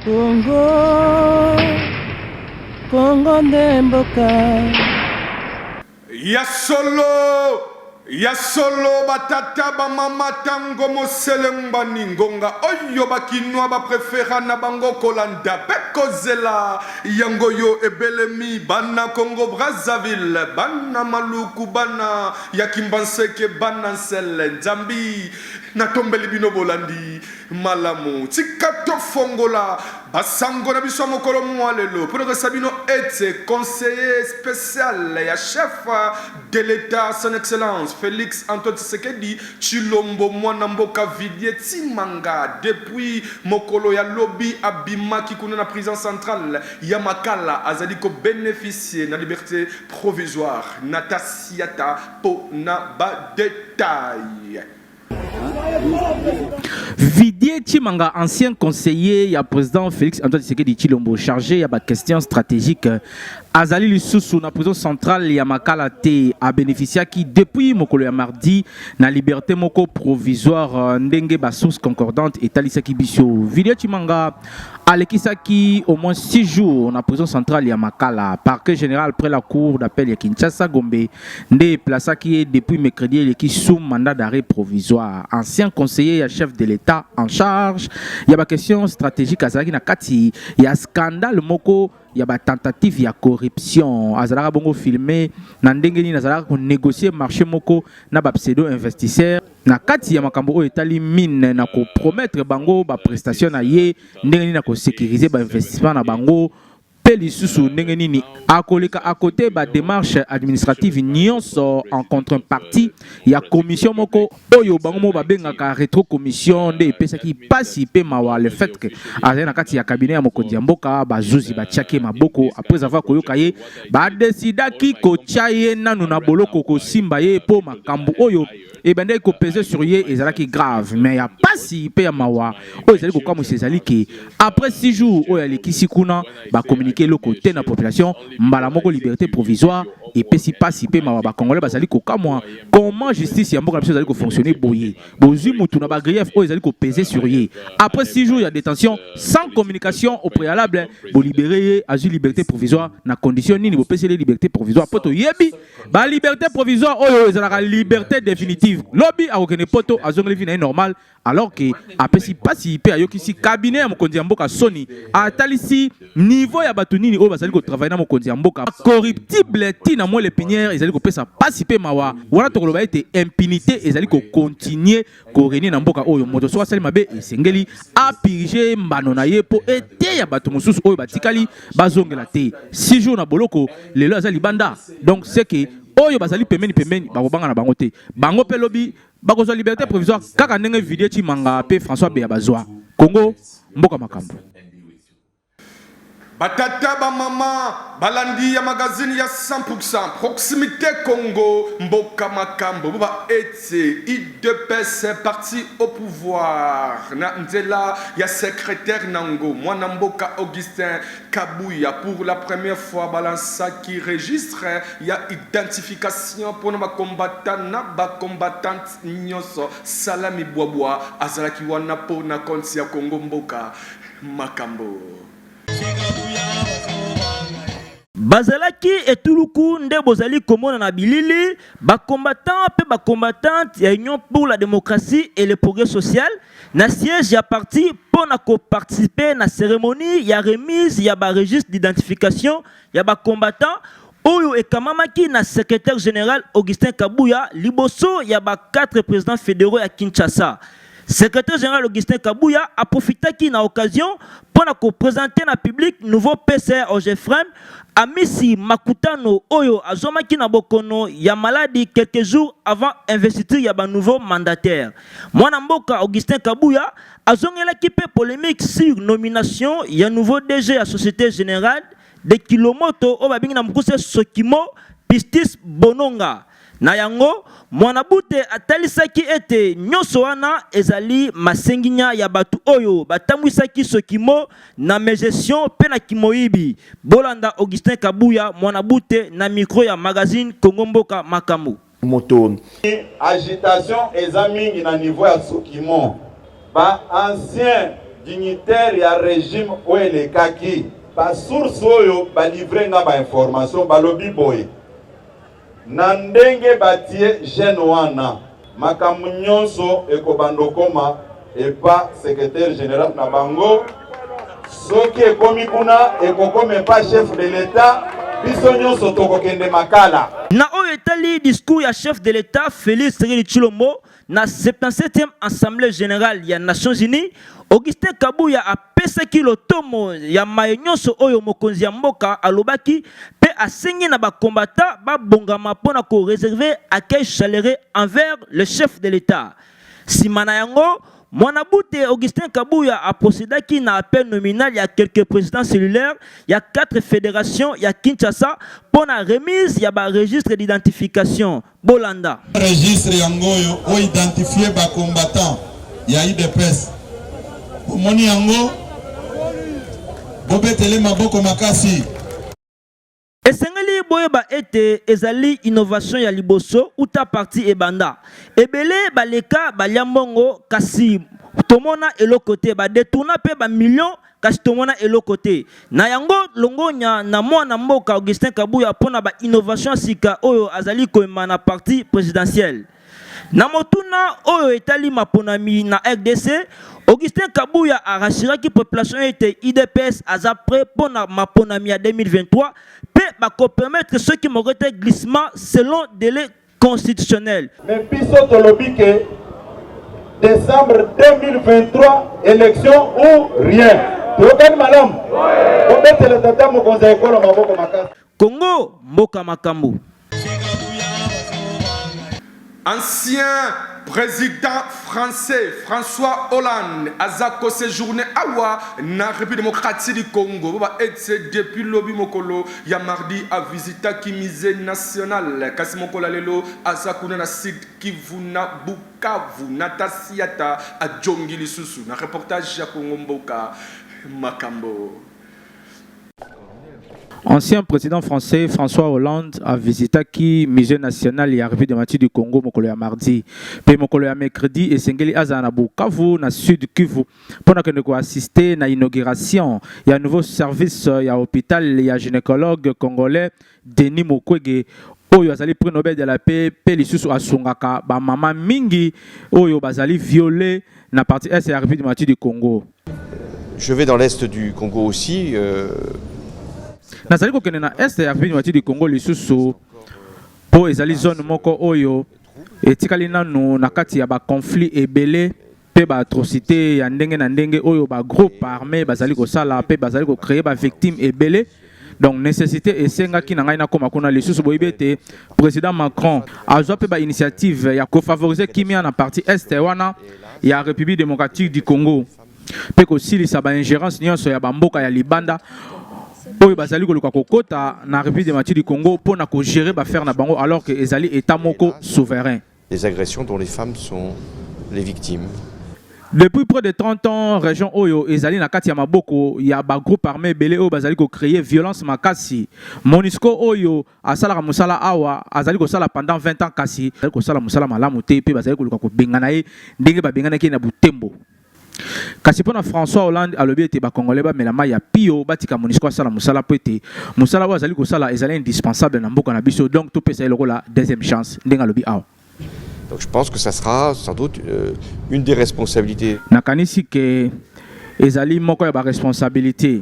Congo, Congo nde mboka. Ya solo, ya solo batata bamama tango moselembani ngonga oyo bakinwa baprefera na bango kolanda mpe kozela yango yo ebelemi bana congo brazzaville bana maluku bana ya kimbanseke bana nsele nzambi natombeli bino bolandi Malamu, tika tofongola ba sango na biso ya mokolo mua lelo pona koyebisa bino ete conseiller special ya chef de l'etat son excellence Felix Antoine Tshisekedi Tshilombo muana mboka Vidier Tsimanga depuis mokolo ya lobi abimaki kuna na prison centrale ya Makala azali ko beneficier na liberte provisoire na Tasiata pona ba details. Vidier Chimanga, ancien conseiller ya président Félix Antoine Tshisekedi Chilombo, chargé ya ba questions stratégiques, azali lisusu na prison centrale ya Makala te, a bénéficiaki depuis mokolo ya mardi na liberté moko provisoire ndenge ba sources concordantes etalisaki biso. Vidier Chimanga alekisaki au moins 6 jours na prison centrale ya makala parquet général après la cour d'appel ya kinshasa gombe nde eplasaki ye depuis mercredi eleki sous mandat d'arrêt provisoire ancien conseiller ya chef de l'état en charge ya baquestion stratégique azalaki na kati ya scandale moko ya batentative ya corruption azalaka bongo filme na ndenge nini azalaka konégocier marché moko na bapseudo investisseur na kati ya makambo oyo etali mine na kopromettre bango baprestation na ye ndenge nini akosécurise bainvestissement na bango mpe lisusu ndenge nini akoleka akote bademarche administrative nyonso en contrepartie ya commission moko oyo bango moko babengaka retro commission nde epesaki mpasi mpe mawa le fait que azali na kati ya cabinet ya mokonzi ya mboka bazuzi batiaki ye maboko après avoir koyoka ye badesidaki kotya ye nanu na boloko kosimba ye mpo makambo oyo ebandaki kopeze sur ye ezalaki grave mais ya pasi mpe ya mawa oyo ezali kokamwisa ezali ke après 6 jours oyo alekisi kuna bakomunike eloko te na population mbala moko liberté provisoire epesi pasi mpe mawa bakongolais bazali kokamwa comment justice ya mboka na biso ezali kofonctionne boye bozwi mutu na bagrief oyo ezali kopeze sur ye après 6 jours ya détention sans communication au préalable bolibere ye azwi liberté provisoire na condition nini bopeseli liberté provisoire mpo toyebi ba liberté provisoire oyo ezalaka liberté définitive lobi akokende poto azongeli vie na ye normal alors ke apesi mpasi mpe ayokisi cabinet ya mokonzi ya mboka soni atalisi niveau ya bato nini oyo bazali kotravaille na mokonzi ya mboka corruptible ti na mwele pinière ezali kopesa mpasi mpe mawa wana tokoloba ete impunité ezali kokontinue korenye na mboka oyo moto soki asali mabe esengeli apirige mbano na ye mpo eteya bato mosusu oyo batikali bazongela te six jours na boloko lelo aza libanda donc seke oyo bazali pembeni pembeni bakobanga na bango te bango mpe lobi bakozwa liberté provisoire kaka ndenge vidie chimanga mpe françois beya bazwa congo mboka makambo Ba tata ba mama balandi ya magazine ya 100 pour 100 proximite Congo mboka makambo boba ete udps parti au pouvoir na nzela ya secretaire nango mwana mboka Augustin Kabuya pour la première fois balansaki registre ya identification pona ba combattant na ba combattante nyoso Salami Bwabwa azalaki wana pona compte ya Congo mboka makambo. Bazalaki etuluku nde bozali komona na bilili, ba combattants mpe ba combattantes ya Union pour la democratie et le progrès social na siège ya parti mpo na ko participer na ceremonie ya remise ya ba registres d'identification ya ba combattants oyo ekamamaki na secretaire general Augustin Kabuya liboso ya ba quatre presidents federaux ya Kinshasa. Secretaire general Augustin Kabuya a profitaki na occasion mpo na ko presenter na public nouveau PCR Ogefrem Amisi Makutano oyo azwamaki na bokono ya maladi quelques jours avant investiture ya ba nouveaux mandataires. Mwana mboka Augustin Kabuya azongelaki mpe polemique sur nomination ya nouveau DG ya Societe Generale de Kilomoto oyo babengi na mokuse Sokimo, Pistis Bononga. Na yango, Mwanabute atalisaki ete nyonso wana ezali masenginya ya bato oyo batambwisaki sokimo na megestion mpe na kimoyibi. Bolanda Augustin Kabuya, Mwanabute, na micro ya magazine Congo Mboka Makambo. moto. Agitation eza mingi na niveau ya sokimo. Ba anciens dignitaires ya regime oyo elekaki, ba sources oyo ba livrer nga ba informations balobi boye, Na ndenge batie jeune wana, makambo nionso ekobanda okoma epa secretaire general na bango, soki ekomi kuna ekokoma epa chef de l'etat, biso nionso tokokende Makala. Na oyo etali discours ya chef de l'etat Felix Tshisekedi Tshilombo, Na 77e Assemblee Generale ya Nations Unies, Augustin Kabuya apesaki lotomo ya maye nyonso oyo mokonzi ya mboka alobaki mpe asengi na bakombata babongama mpo na ko reserver accueil chaleureux envers le chef de l'Etat. Nsima na yango, Mwana Bute Augustin Kabuya aprosedaki na appel nominal ya quelques présidents cellulaires ya quatre federations ya Kinshasa mpo na remise ya ba registres d'identification. Bolanda. Registre yango oyo o identifier ba combattants ya UDPS. Omoni yango? Bobetele maboko makasi. Esengeli boyeba ete ezali innovation ya liboso uta parti ebanda. Ebele baleka balia mbongo kasi tomona eloko te ba detourna pe ba millions kasi tomona eloko te. Na yango, longonya na mwana mboka Augustin Kabuya mpo na ba innovations sika oyo azali koyema na parti presidentiel. Na motuna oyo etali maponami na RDC, Augustin Kabuya a rassuraki population ete UDPS aza prêt mpo na maponami ya 2023 mpe bako permettre soki moko te glissement selon delai constitutionnelle. Mais biso tolobi que décembre 2023 élection ou rien. Tokani malam. Obetele tata mokonzi ya ekolo maboko makasi. Congo mboka makambo. Ancien président français François Hollande aza ko séjourner awa na République démocratique du Congo ba etse depuis lobi mokolo ya mardi a visitaki musee national kasi mokolo ya lelo aza kuna na Sud Kivu na Bukavu. Nata Siata ajongi lisusu na reportage ya Congo Mboka Makambo. Ancien president français François Hollande a visitaki musée national ya Revue de Mathieu du Congo mokolo ya mardi mpe mokolo ya mercredi esengeli azala na Bukavu na Sud Kivu mpo na kende koassiste na inauguration ya nouveau service ya hopital ya gynécologue congolais Denis Mukwege oyo azali prix Nobel de la paix mpe lisusu asungaka bamama mingi oyo bazali viole na parti est ya République démocratique du Congo. Je vais dans l'est du Congo aussi. Euh... nazali kokende na est ya République démocratique du Congo lisusu mpo ezali zone moko oyo etikali nanu na kati ya baconflit ebele mpe ba atrocité ya ndenge na ndenge oyo ba groupe armé bazali kosala mpe bazali kocreye ba victime ebele donc nécessité esengaki na ngai nakoma kuna lisusu boyebi ete président macron azwa mpe bainitiative ya kofavorize kimia na partie est wana ya république démocratique du congo mpe kosilisa baingérence nyonso ya bamboka ya libanda oyo bazali koluka kokota na république démocratique du congo mpo na kogere baaffaire na bango alors que ezali état moko souverain Les agressions dont les femmes sont les victimes. Depuis près de 30 ans, région Oyo ezali na kati ya maboko ya ba groupes armés belé oyo bazali ko créer violence makasi. Monisco Oyo asalaka musala awa azali ko sala pendant 20 ans kasi azali ko sala musala malamu te pe bazali ko luka ko bengana ye ndenge ba benganaki ye na Butembo. Kasi mpo na François Hollande alobi ete ba Congolais bamela mai ya pio, batika Monusco asala mosala mpo ete mosala oyo azali kosala ezali indispensable na mboka na biso, donc topesa ye lokola deuxième chance, ndenge alobi awa. Donc je pense que ça sera sans doute euh, une des responsabilités. Nakanisi que ezali moko ya ba responsabilité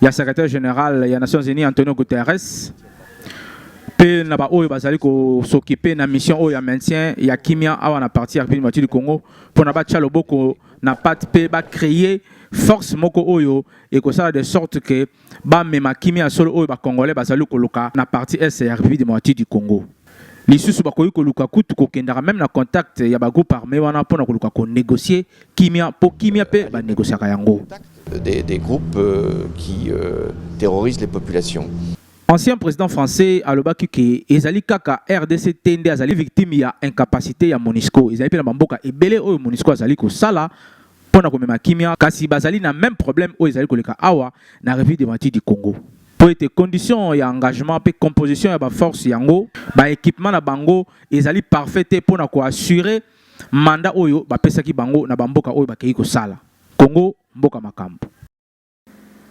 ya secrétaire général ya Nations Unies Antonio Guterres mpe na baoyo bazali kosokipe na mission oyo ya maintien ya kimia awa na parti ya Republique du Congo mpo na batya loboko na pate mpe bacreye force moko oyo ekosala de sorte que bamema kimia ya solo oyo bacongolais bazali koluka na parti est ya république démocratique du congo lisusu bakoki koluka kutu kokendaka meme na contact ya bagroupe armé wana mpo na koluka konégocier kimia mpo kimia mpe banégociaka yango des, des groupes euh, qui euh, terrorisent les populations Ancien president français alobaki ke ezali kaka RDC te nde azali victime ya incapacité ya Monisco. Ezali mpe na bamboka ebele oyo Monisco azali kosala mpo na komema kimia, kasi bazali na meme problème oyo ezali koleka awa na Revue des Martyrs du Congo mpo ete condition ya engagement mpe composition ya baforce yango baekipement na bango ezali parfait te mpo na koassure manda oyo bapesaki bango na bamboka oyo bakei kosala. Congo mboka makambo.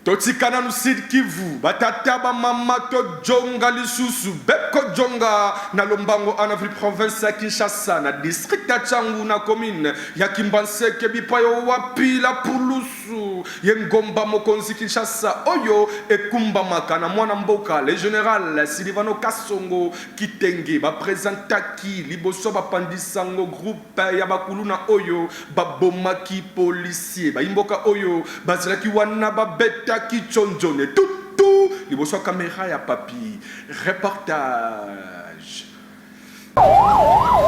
Totika nanu Sud Kivu ba tata ba mama to djonga lisusu beko djonga na lombango a na ville province ya Kinshasa na district ya Tshangu na commune ya Kimbanseke bipayo wapi la pulusu ye ngomba mokonzi Kinshasa oyo ekumbamaka na mwana mboka le general Silivano Kasongo Kitenge ba presentaki liboso ba pandisango groupe ya ba kuluna oyo ba bomaki policier bayi mboka oyo bazalaki wana ba betaki tshonzone tout tout liboso ya camera ya papy reportage.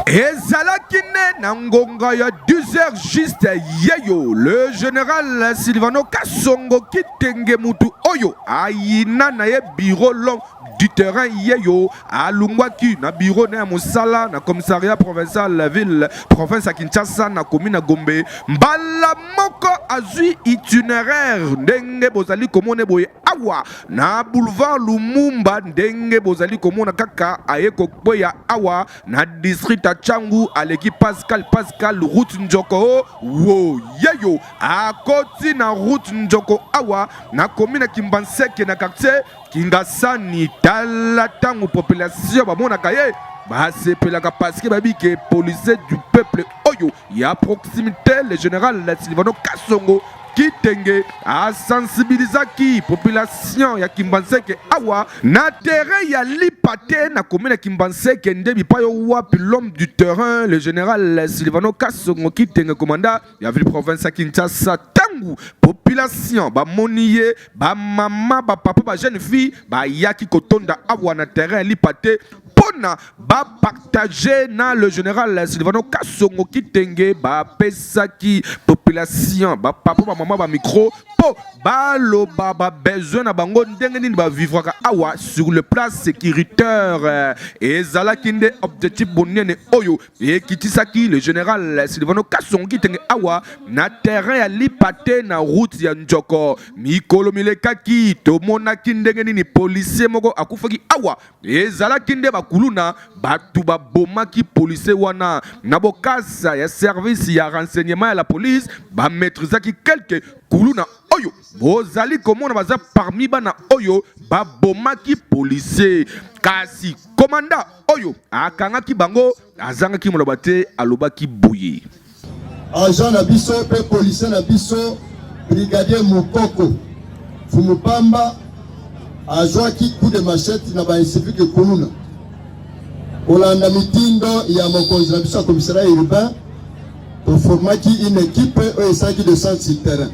Ezalaki nde na ngonga ya 10 heures juste yeyo le general Silvano Kasongo Kitenge mutu oyo ayina na ye bureau long du terrain yeyo alungwaki na biro na ya mosala na commissariat provincial la ville province ya kinshasa na komi na gombe mbala moko azwi itineraire ndenge bozali komona boye awa na boulevard lumumba ndenge bozali komona kaka aye kokweya awa na district ya changu aleki pascal pascal route njoko wo yeyo akoti na route njoko awa na komi na kimbanseke na quartier Kingasani tala ntango population bamonaka ye basepelaka parceke bayebi ke policier du peuple oyo ya proximité le général silvano kasongo kitenge asensibilizaki population ya kimbanseke awa na terrain ya lipa te na komine ya kimbanseke nde bipai wapi l'homme du terrain le général silvano kasongo kitenge komanda ya ville province ya kinshasa ntango population bamoni ye bamama bapapa bajeune fille bayaki kotonda awa na terrain ya lipa te mpona bapartage na le général silvano kasongo kitenge bapesaki population bapapa bamama bamikro mpo baloba babesoin na bango ndenge nini bavivraka awa sur le plan sécuritaire ezalaki nde objectif bonene oyo ekitisaki le général silvano kasongo kitenge awa na terrain ya lipa te na route ya njoko mikolo milekaki tomonaki ndenge nini policier moko akufaki awa ezalaki nde bakuluna bato babomaki policier wana na bokasa ya service ya renseignement ya la police bamaîtrisaki quelque kuluna oyo bozali komona baza parmi bana oyo babomaki policier kasi komanda oyo akangaki bango azangaki moloba te alobaki boye agent na biso mpe policier na biso brigadier mokoko fumupamba azwaki coup de machette na bainsivique kuluna kolanda mitindo ya mokonzi na biso ya komisaria urbain toformaki une ekipe oyo esalaki de centre sur terrain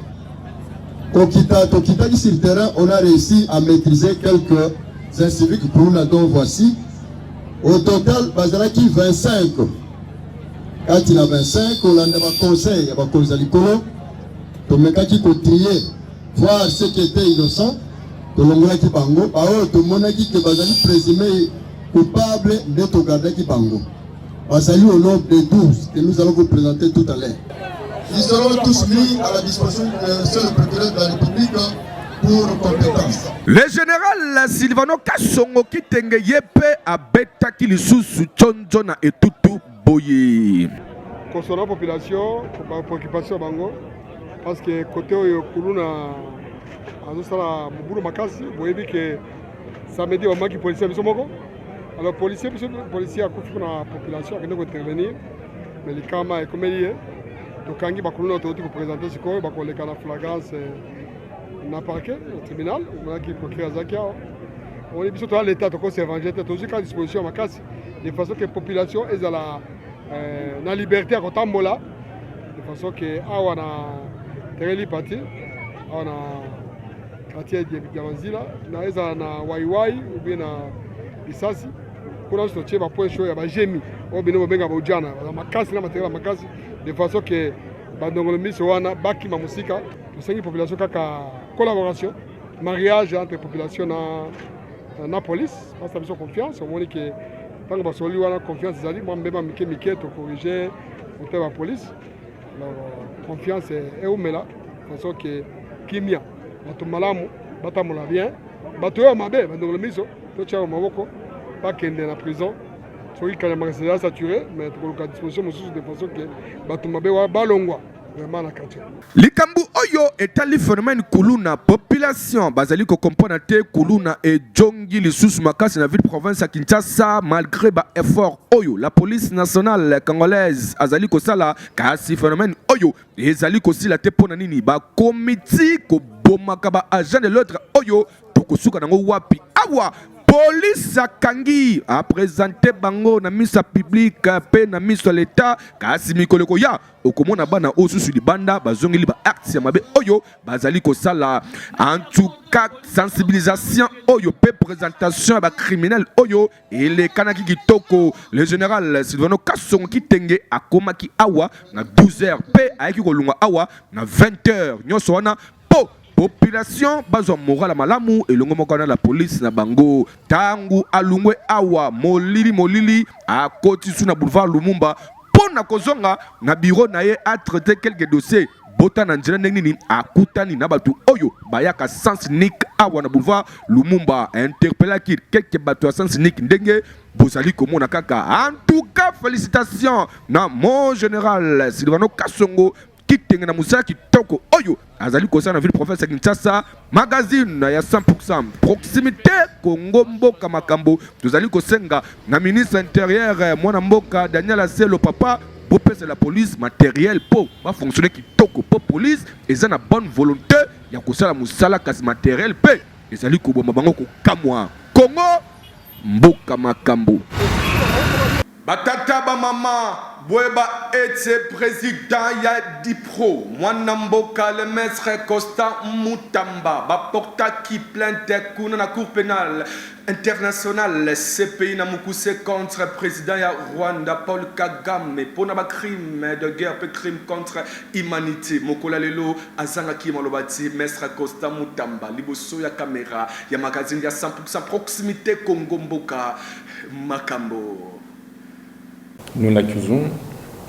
Kokita, tokitaki sur terrain, on a réussi à maîtriser quelques inciviques kuluna dont voici. Au total, bazalaki 25. Kati na 25, kolanda ba conseils ya bakonzi ya likolo, tomekaki kotrier voir ce qui était innocent, tolongolaki bango, baoyo tomonaki ke bazali présumé coupable nde togardaki bango. Bazali au nombre de 12 que nous allons vous présenter tout à l'heure. Ils seront tous mis à la disposition du seul procureur de la République le général silvano kasongo kitenge ye mpe abetaki lisusu conco na etutu boye kosola population bapreoccupation bango parce que kote oyo kuluna azosala mobulu makasi boyebi ke Samedi bamaki policier biso moko alors policier biso policier akufi kuna population akende kointervenir mais likama ekomeli ye tokangi bakuluna oyo touti kopresente sikoyo bakoleka na flagrance eh, na parquet na tribunal omonaki procureur azalaki awa omoni biso toza leta tokosi evangile te tozwi kaka disposition ya makasi de façon que population ezala eh, na liberté ya kotambola de façon que awa na terrain lipati awa na Atie debita na nzila na ezala na waiwai ubie na lisasi kuna nyonso totie bapoint chaud ya bagemi oyo bino bobenga baujana baza makasi na materiel ya makasi de façon ke bandongolo miso wana bakima mosika tosengi population kaka collaboration mariage entre population na, na police basa biso confiance omoni ke ntango basololi wana confiance ezali mwa mbema mike mike tokorige motema ya police confiance eumela façon ke kimia bato malamu batambola bien bato oyo mabe bandongolo miso totyaka maboko bakende na prison soki kanyama eza saturé mais tokoluka disposition mosusu de façon ke bato mabe wana balongwa vraiment na quartier likambo oyo etali phénomène kuluna population bazali kokompona te kuluna ejongi lisusu makasi na ville province ya kinshasa malgré ba effort oyo la police nationale congolaise azali kosala kasi phénomène oyo ezali kosila te mpo na nini bakomi ti kobomaka ba agent de l'autre oyo tokosuka nango wapi awa polisi akangi apresente bango na miso ya publike mpe na miso ya leta kasi mikolo ekoya okomona bana oyo susu libanda bazongeli ba acte ya mabe oyo bazali kosala en tout cas sensibilisation oyo mpe presentation ya bacriminel oyo elekanaki kitoko le général silvano kasongo kitenge akomaki awa na 12 heures mpe ayaki kolongwa awa na 20 heures nyonso wana mpo population bazwa moral ya malamu elongo moko wana la police na bango ntango alungwe awa molili molili akoti su na boulevard lumumba mpo na kozonga na biro na ye atraite quelques dossiers bota na nzela ndenge nini akutani na bato oyo bayaka sans nik awa na boulevard lumumba interpellaki keke bato ya sans nik ndenge bozali komona kaka en tout cas félicitation na mon général silvano kasongo kitenge na mosala kitoko oyo azali kosala na ville province ya kinshasa Magazine ya 100% proximité Congo mboka makambo tozali kosenga na ministre intérieur mwana mboka Daniel Aselo papa bopesa la police matériel po ba fonctionner kitoko po police eza na bonne volonté ya kosala mosala kasi matériel pe ezali koboma bango kokamwa Congo Mboka makambu. Ba tata ba maman boyeba ete president ya Udipro muana mboka le maitre Constant Mutamba ba portaki plainte kuna na cour penale internationale CPI na mukuse contre president ya Rwanda Paul Kagame pona ba crimes de guerre pe crimes contre humanite. Mokolo ya lelo azangaki maloba ti maitre Constant Mutamba liboso ya camera ya magazine ya 100. Sa proximite Congo mboka makambo. Nous n'accusons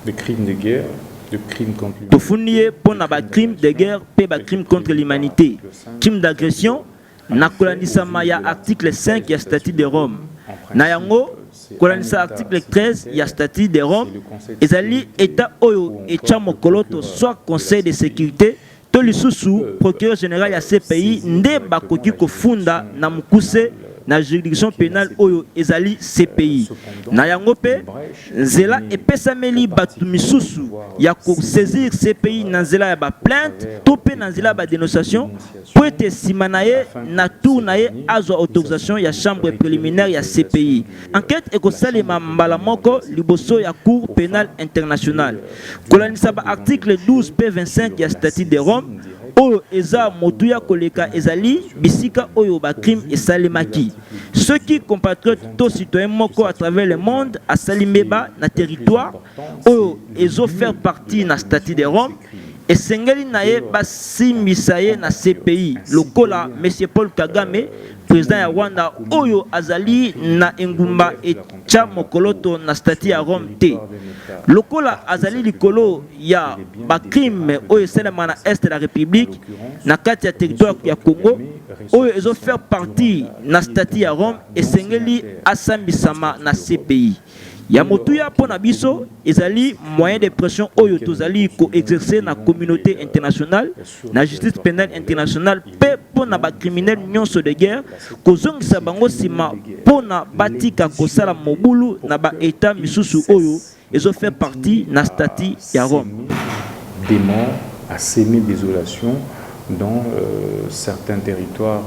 de crimes de guerre, de crimes contre l'humanité, Tofundi ye mpo na ba crimes de guerre mpe ba crimes contre l'humanite, crimes d'agression, na kolandisama ya article 5 ya Statut de Rome. Na yango, kolandisa article 13 ya Statut de Rome, ezali Etat oyo etya mokoloto soit Conseil de securite to lisusu procureur general ya CPI nde bakoki kofunda na mokuse na juridiction pénale oyo ezali CPI. Na yango pe nzela epesameli bato misusu ya ko saisir CPI na nzela ya ba plainte to pe na nzela ya ba dénonciation po ete sima na ye na tour na ye azwa autorisation ya chambre préliminaire ya CPI. Enquete ekosalema mbala moko liboso ya Cour penale internationale. Kolandisa ba articles 12 mpe 25 ya Statut de Rome, oyo eza motuya koleka ezali bisika oyo ba crimes esalemaki. Soki compatriote to citoyen moko à travers le monde asali mbeba na territoire oyo ezo faire partie na Statut de Rome, esengeli na ye basimbisa ye na CPI, lokola Monsieur Paul Kagame, President ya Rwanda oyo azali na engumba etya mokoloto na stati ya Rome te. Lokola azali likolo ya bacrime oyo esalema na este ya Republique na kati ya territoire ya Congo oyo ezo faire partie na stati ya Rome esengeli asambisama na CPI. Ya motuya mpo na biso ezali moyen de pression oyo tozali ko exercer na communaute internationale, na Justice penale internationale mpe mpo na ba criminels nionso de guerre kozongisa bango sima mpo na batika kosala mobulu na ba Etats misusu oyo ezo fait partie na Statut ya Rome. demon a seme desolation dans certains territoires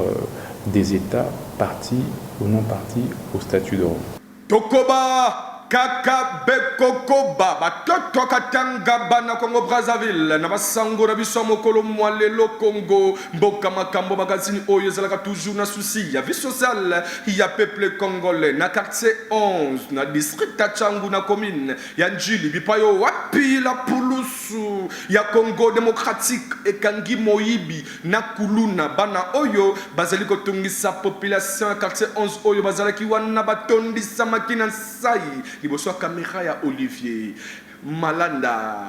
des Etats partie ou non partie au Statut de Rome. Tokoba kaka bekokoba batoto katanga bana Congo Brazzaville na basango na biso ya mokolo mwa lelo Congo mboka makambo magazini oyo ezalaka toujours na souci ya vie sociale ya peuple congolais na quartier 11 na district ya Changu na commune ya Ndjili bipayo wapi la pulusu ya Congo démocratique ekangi moyibi na kuluna bana oyo bazali kotungisa population ya quartier 11 oyo bazalaki wana batondisamaki na nsai liboso ya camera ya Olivier Malanda.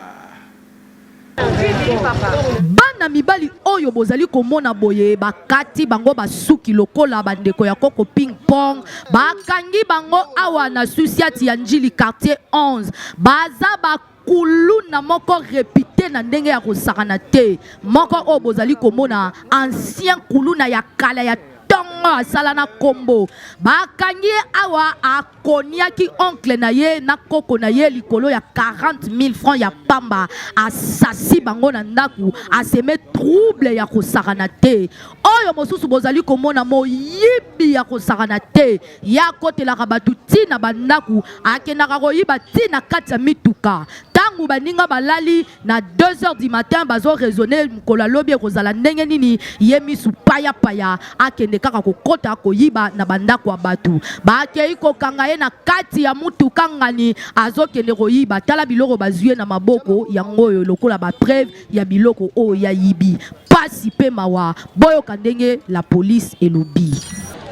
Bana mibali oyo bozali komona boye bakati bango basuki lokola bandeko ya koko ping pong bakangi bango awa na susiati ya njili quartier 11 baza ba kuluna moko repite na ndenge ya kosakana te moko oyo bozali komona ancien kuluna ya kala ya ntongo asala na nkombo bakangi ye awa akoniaki oncle na ye na koko na ye likolo ya 40 000 francs ya pamba asasi bango na ndako aseme trouble ya kosakana te oyo mosusu bozali komona moyibi lobi ya kosakana te ye akotelaka bato ti na bandako akendaka koyiba ti na kati ya mituka ntango baninga balali na 2 heures du matin bazo raisonne mokolo ya lobi ekozala ndenge nini ye misu payapaya akende kaka kokota koyiba na bandako ya bato bakei kokanga ye na kati ya motuka ngani azokende koyiba tala biloko bazwi ye na maboko yango oyo lokola bapreve ya biloko oyo ya yibi pasi pe mawa boyoka ndenge la police elobi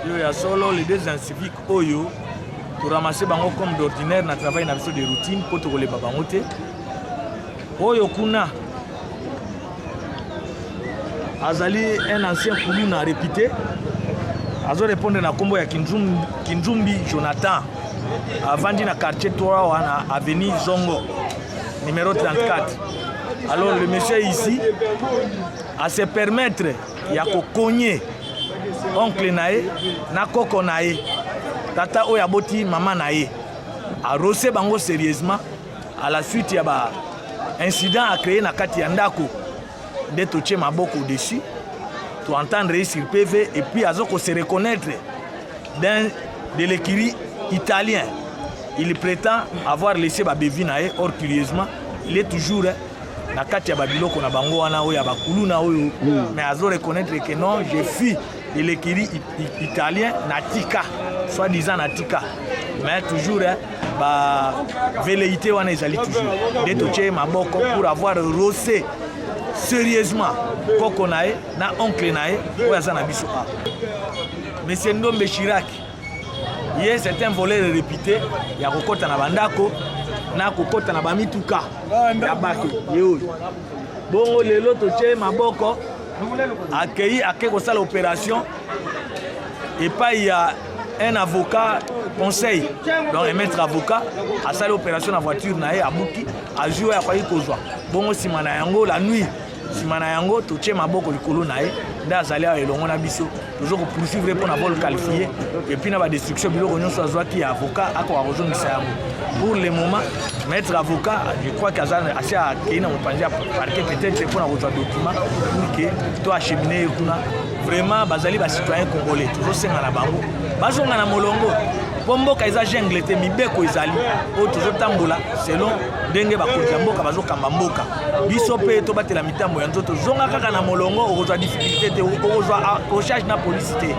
yo ya solo les deux inciviques oyo toramase bango comme d'ordinaire na travail na biso de routine mpo tokolemba bango te oyo kuna azali un ancien kuluna réputé azorépondre na nkombo ya kinzumbi, kinzumbi jonathan avandi na quartier 3 wana avenue zongo numéro 34 Alors le monsieur ici à se permettre ya kokonye oncle na ye na koko na ye tata oyo aboti mama na ye arose bango sérieusement à la suite ya ba incident a créé na kati ya ndako nde totie maboko dessus toentendre ye sur pv et puis aza ko se reconnaître d'un de l'écurie italien. Il prétend avoir laissé ba bevi na ye or curieusement il est toujours hein, na kati ya babiloko na bango wana oyo ya bakuluna oyo mm. mais azo reconnaître que non je fus de l'écurie italien na tika soit disant na tika mais toujours hein, ba velléité wana ezali toujours nde totye maboko pour avoir rosé sérieusement koko na ye na oncle na ye oyo aza na biso awa Monsieur Ndombe Chirac, ye c'est un voleur réputé ya kokota na bandako na kokota na bamituka ya bato ye oyo bongo lelo totye maboko akei ake kosala opération epai ya un avocat conseil donc un maître avocat asali opération na voiture na ye abuki azwi oyo akoki kozwa bongo nsima na yango la nuit nsima na yango totie maboko likolo na ye nde azali awa elongo na biso tozo kopoursuivre ye mpo na bol qualifie epuis na badestruction biloko nyonso azwaki ya avocat akoka kozongisa yango pour le moment maître avocat je crois que aza asi akei na mopanzi ya parquet peut-être mpo na kozwa document pour que to achemine ye kuna vraiment bazali bacitoyen congolais tozosenga na bango bazonga na molongo mpo mboka eza jungle te mibeko ezali oyo tozotambola selon ndenge bakonzi ya mboka bazokamba mboka biso mpe tobatela mitambo ya nzoto zonga kaka na molongo okozwa difficulté te okozwa accrochage ah, na polisi te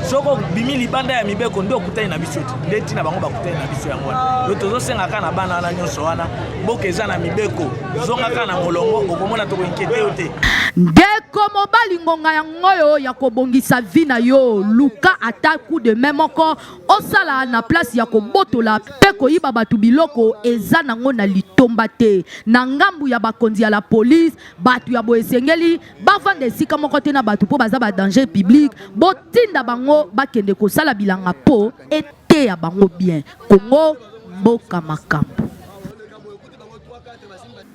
soki obimi libanda ya mibeko nde okutani na biso te nde ntina bango bakutani na biso yango wana yo tozosenga kaka na bana wana nyonso wana mboka eza na mibeko zonga kaka na molongo okomona tokoinkete yo te ndeko mobali ngonga yango oyo ya kobongisa vi na yo luka ata coup de main moko Osala na place ya kobotola pe koyiba batu biloko eza nango na litomba te. Na ngambu ya bakonzi ya la police, batu ya boye esengeli bavanda esika moko te na batu po baza ba danger public. Botinda bango bakende kosala bilanga po eteya bango bien. Congo mboka makambu.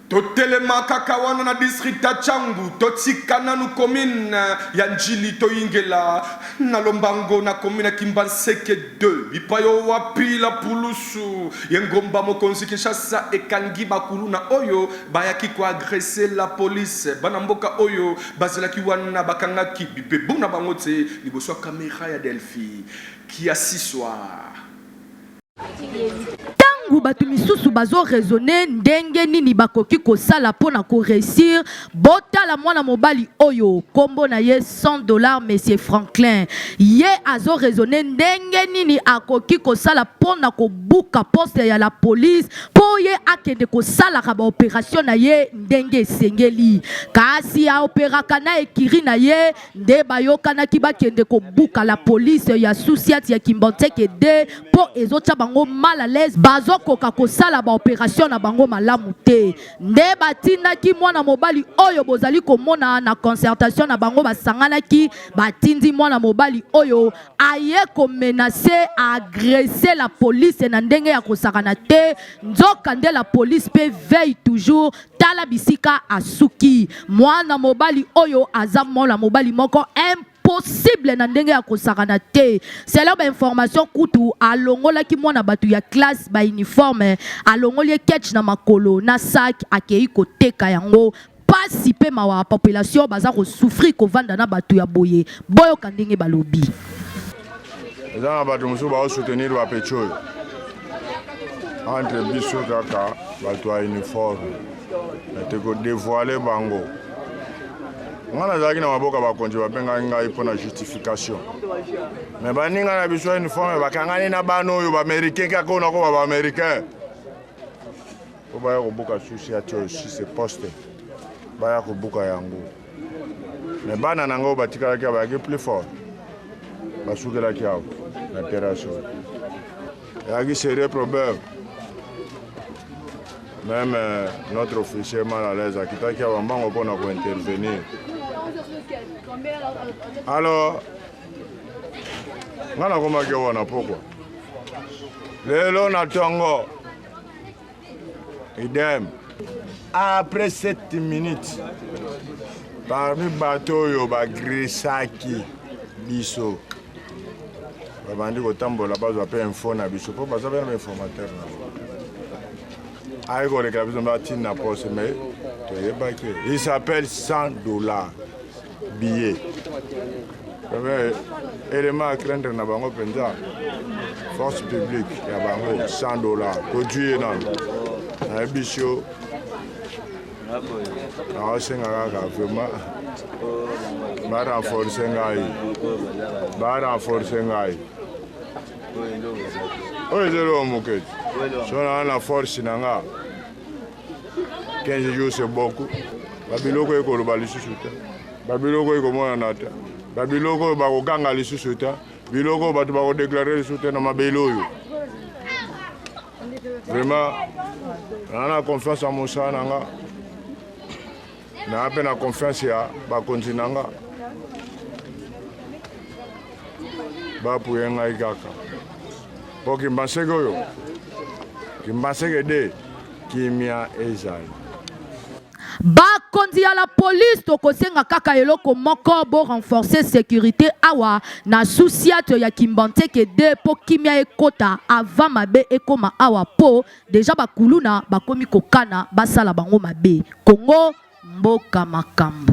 Totelema kaka wana na district ya Tshangu, totika nanu commune ya Ndjili toyingela na lombango na commune ya Kimbanseke ii bipai oyo wapi la pulusu y'engomba mokonzi Kinshasa ekangi ba kuluna oyo bayaki ko agresser la police. Bana mboka oyo bazelaki wana bakangaki bibebu na bango tse liboso ya camera ya Delphi Kiasiswa. ntango bato misusu bazoraisonne ndenge nini bakoki kosala mpo na koreussir botala mwana mobali oyo nkombo na ye 100 dollar monsieur franklin ye azoraisonne ndenge nini akoki kosala mpo na kobuka poste ya la police mpo ye akende kosalaka baoperation na ye ndenge esengeli kasi aoperaka na ekiri na ye nde bayokanaki bakende kobuka la police ya sousiat ya kimbanseke de mpo ezotya bango mal à l'aise bazokoka kosala baoperation na bango malamu te nde batindaki mwana mobali oyo bozali komona na concertation na bango basanganaki batindi mwana mobali oyo aye komenase agresse la police na ndenge ya kosakana te nzoka nde la police mpe veille toujours tala bisika asuki mwana mobali oyo aza mwana mobali moko imp possible na ndenge ya kosakana te selon bainformation kutu alongolaki mwana bato ya classe bauniforme alongoli ye ketch na makolo na sak akei koteka yango pasi mpe mawa population baza kosouffrir kovanda na bato ya boye boyoka ndenge balobi eza na bato mosusu baosoutenir bapeti oyo entre biso kaka bato ya uniforme ete kodevoile bango ngai nazalaki na maboka bakonzi babengaki ngai mpo na justification me baninga na biso ya uniforme bakangani na bana oyo baaméricain kaka oyo nakoba baaméricain mpo baya kobuka susi ati oyo si se poste baya kobuka yango Mais bana na ngai batikalaki awa bayaki plus fort basukelaki awa na terrasse oyo eyaki serieux problème même euh, notre officier mal à l'aise akitaki awa mbango mpo na kointervenir alors ngai nakomaki wana pokwa lelo na ntongo Idem. Après 7 minutes, parmi bato oyo bagresaki biso babandi kotambola bazwa mpe info na biso mpo baza mpe na bainformateur na bango aye kolekela biso mpe atinda poste mais toyebaki il s'appelle 100 dollars biye eh, elema ya craindre na bango mpenza force publique ya bango 100 dollar tozwi ye nano nayebi sio naosenga kaka vraiment barenforce ngai barenforce ngai oyo ezali oyo mokeji so naa na force na nga 15 jours c'est beaucoup babiloko oyo ekoloba lisusu te babiloko oyo ekomonana te babiloko oyo bakoganga lisusu te biloko oyo bato bakodeklare lisusu te na mabele oyo vraiment naa na confiance ya mosala na nga Naa mpe na confiance ya bakonzi na nga bapuye ngai kaka mpo kimbanseke oyo kimbanseke de kimia ezali bakonzi ya la police tokosenga kaka eloko moko bo renforcer sécurité awa na susiato ya kimbanteke de mpo kimia ekota avant mabe ekoma awa mpo Deja ba kuluna bakomi kokana basala bango mabe. Congo mboka makambo.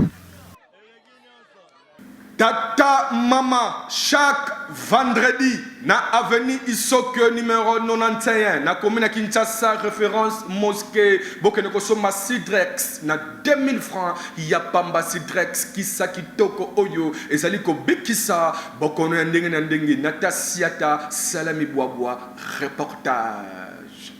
Tata mama chaque vendredi na avenue Isokyo numero 91 na commune ya Kinshasa reference mosquée bokende kosomba Sidrex na 2000 francs ya pamba Sidrex kisa kitoko oyo ezali kobikisa bokono ya ndenge na ndenge na tasiata salami bwabwa Reportage.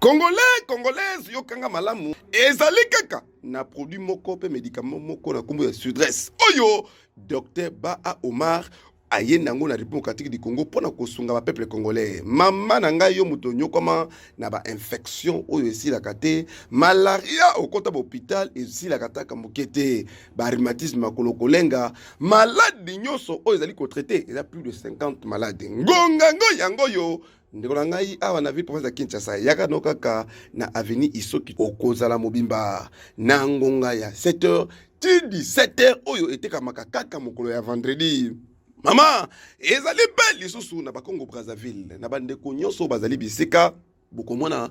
Congolais, congolaise, yokanga malamu ezali kaka na produit moko mpe medicament moko na nkombo ya sudresse oyo Docteur Baa Omar aye na yango na République démocratique du Congo mpo na kosunga bapeuple congolais. Mama na ngai yo moto onyokwama na bainfection oyo esilaka te, malaria okota bahopital esilaka taka moke te, barhumatisme makolo kolenga, maladi nyonso oyo ezali kotraite eza plus de 50 maladi ngongango yango oyo ndeko na ngai awa na ville province ya kinshasa yaka no kaka na avenue isoki okozala mobimba na ngonga ya 7 heures ti 17 heures oyo etekamaka kaka mokolo ya vendredi mama ezali mpe lisusu na bakongo brazzaville na bandeko nyonso bazali bisika bokomona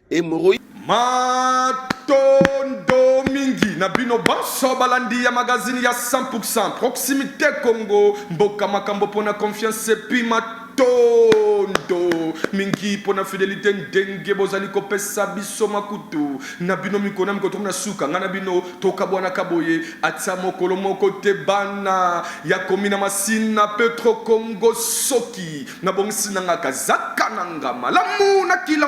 Hemorroïde. Matondo mingi na bino banso balandi ya magazini ya 100% proximité Congo mboka makambo mpona confiance epi matondo mingi mpona fidelité ndenge bozali kopesa biso makutu na bino mikona mikotomi na suka ngai na bino tokabwanaka boye atia mokolo moko te bana ya komi na masina petro congo soki nabongisi na nga kazaka na nga malamu na kila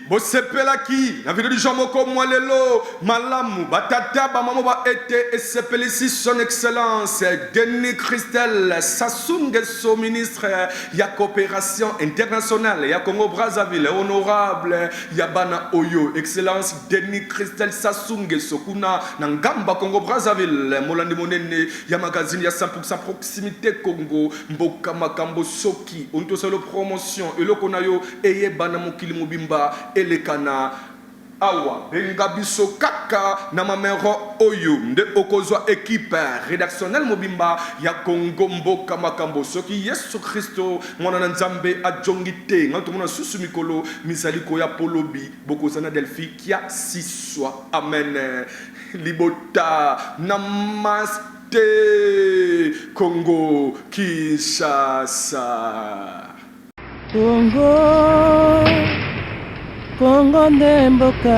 bosepelaki na video du jour moko mwa lelo malamu batata bamama ba ete esepelisi son excellence denis christel sasungeso ministre ya coopération internationale ya congo brazzaville honorable ya bana oyo excellence denis christel sasungeso kuna na ngamba congo brazzaville molandi monene ya magazine ya 100 proximité congo mboka makambo soko Ki oni to salo promotion eloko na yo eyebana mokili mobimba eleka na awa benga biso kaka na mamero oyo nde okozwa equipe redactionnel mobimba ya congo mboka makambo soki yesu christo mwana na nzambe ajongi te nga tomona susu mikolo mizali koya polobi bokoza na delphi kia siswa amen libota na mas Te Congo Kinshasa. Congo Congo nde mboka.